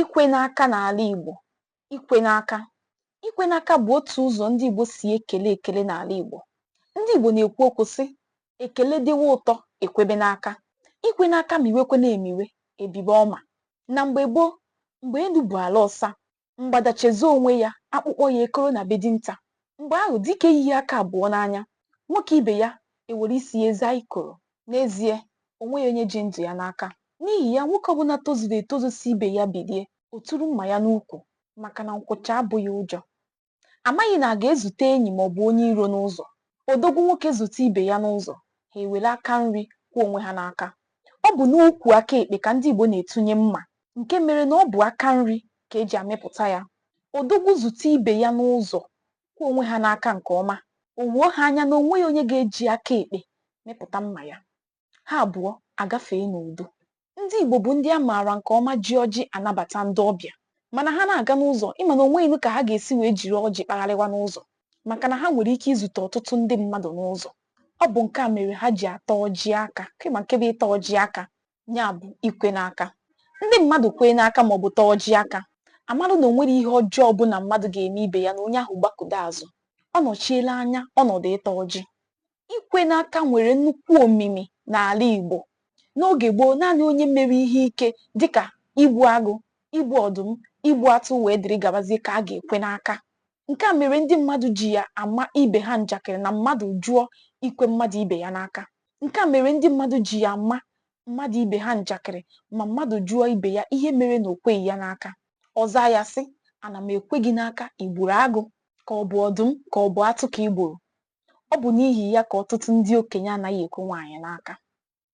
ikwe n'aka n'ala Igbo ikwe n'aka ikwe n'aka bụ otu ụzọ ndị Igbo si ekele ekele n'ala Igbo ndị Igbo na-ekwu okwu sị ekele dịwa ụtọ ekwebe n'aka ikwe n'aka miwekwe na-emiwe ebibe ọma na mgbe gboo mgbe elu bụ ala ọsa mgbada chezọọ onwe ya akpụkpọ ya ekoro na be dinta mgbe ahụ dike yiyi aka abụọ n'anya nwoke ibe ya ewere isi ya zaa ikoro N'ezie, o nweghị onye ji ndụ ya n'aka. N'ihi ya, nwoke ọbụla tozuru etozu si be ya bilie, o turu mma ya n'ukwu, maka na nkwụcha abụghị ụjọ. A maghị na a ga-ezute enyi maọbụ onye iro n'ụzọ. Odogwu nwoke zute ibe ya n'ụzọ, ha ewere aka nri kwee onwe ha n'aka. Ọ bụ n'ukwu aka ekpe ka ndị Igbo na-etunye mma, nke mere na ọ bụ aka nri ka e ji amịpụta ya. Odogwu zute ibe ya n'ụzọ, kwee onwe ha n'aka nke ọma o wuo ha anya na o nweghị onye ga-eji aka ekpe mịpụta mma ya ha abụọ agafee n'udo ndị Igbo bụ ndị a maara nke ọma ji ọjị anabata ndị ọbịa mana ha na-aga n'ụzọ ị ma na o nweghịnụ ka ha ga-esi wee jiri ọjị kpagharịwa n'ụzọ maka na ha nwere ike izute ọtụtụ ndị mmadụ n'ụzọ ọ bụ nke a mere ha ji ata ọjị aka kema nke bụ ịta ọjị aka ya bụ ikwe n'aka ndị mmadụ kwee n'aka ma ọ bụ taa ọjị aka amalụ na o nwere ihe ọjọọ ọbụla mmadụ ga-eme ibe ya na onye ahụ gbakụdo azụ ọ nọchiela anya ọnọdụ ịta ọjị ikwe n'aka nwere nnukwu omimi n'ala Igbo n'oge gboo naanị onye mere ihe ike dịka igbu agụ igbu ọdụm igbu atụ wee dịrị gabazie ka a ga-ekwe n'aka Nke a mere ndị mmadụ ji ya ama ibe ha njakịrị na mmadụ jụọ ikwe mmadụ ibe ya n'aka. Nke a mere ndị mmadụ ji ya ama mmadụ ibe ha njakịrị ma mmadụ jụọ ibe ya ihe mere na o kweghị ya n'aka. Ọ zaa ya sị, Ana m ekwe gị n'aka, i gburu agụ, ka ọ bụ ọdụm, ka ọ bụ atụ ka i gburu. Ọ bụ n'ihi ya ka ọtụtụ ndị okenye anaghị ekwe nwaanyị n'aka.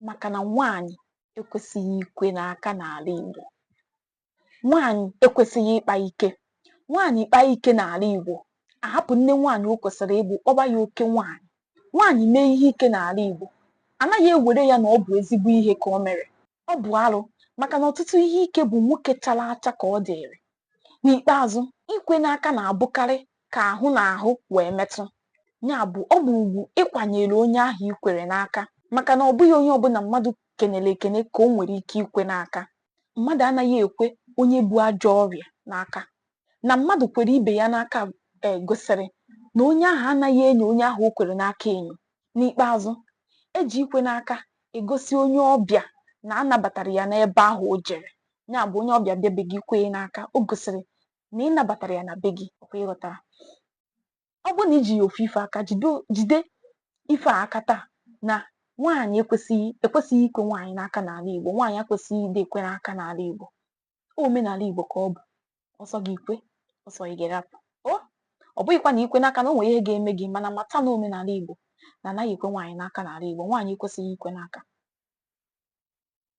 maka na nwaanyị ekwesịghị ikwe n'aka n'ala Igbo nwaanyị ekwesịghị ịkpa ike nwaanyị kpaa ike n'ala Igbo ahapụ nne nwaanyị o kwesịrị ịbụ kpọba ya oke nwaanyị nwaanyị mee ihe ike n'ala Igbo anaghị ewere ya na ọ bụ ezigbo ihe ka o mere ọ bụ arụ maka na ọtụtụ ihe ike bụ nwoke chara acha ka ọ dịrị N'ikpeazụ, ikwe n'aka na-abụkarị ka ahụ na ahụ wee metụ. Ya bụ, ọ bụ ugwu ị kwanyere onye ahụ i kwere n'aka maka na ọ bụghị onye ọbụla mmadụ kenere ekene ka o nwere ike ikwe n'aka. Mmadụ anaghị ekwe onye bu ajọ ọrịa n'aka. Na mmadụ kwere ibe ya n'aka gosiri na onye ahụ anaghị enyo onye ahụ o kwere n'aka enyo. N'ikpeazụ, e ji ikwe n'aka egosi onye ọbịa na a nabatara ya n'ebe ahụ o jere. ya bụ onye ọbịa bịa be gị kwee n'aka o gosiri na ị nabatara ya na be gị ọ kwa ị ghọtara ọ bụrụ na i jighị ofu ife aka jide ife a aka taa na nwaanyị ekwesịghị ekwesịghị ikwe nwaanyị n'aka n'ala Igbo nwaanyị akwesịghị ịdị ekwe n'aka n'ala Igbo omenala Igbo ka ọ bụ ọ sọ gị i kwe ọ sọ gị ị rapụ ọ bụghịkwa na i kwe n'aka na o nwere ihe ga-eme gị mana mata na omenala Igbo na a naghị ekwe nwaanyị n'aka n'ala Igbo nwaanyị ekwesịghị ikwe n'aka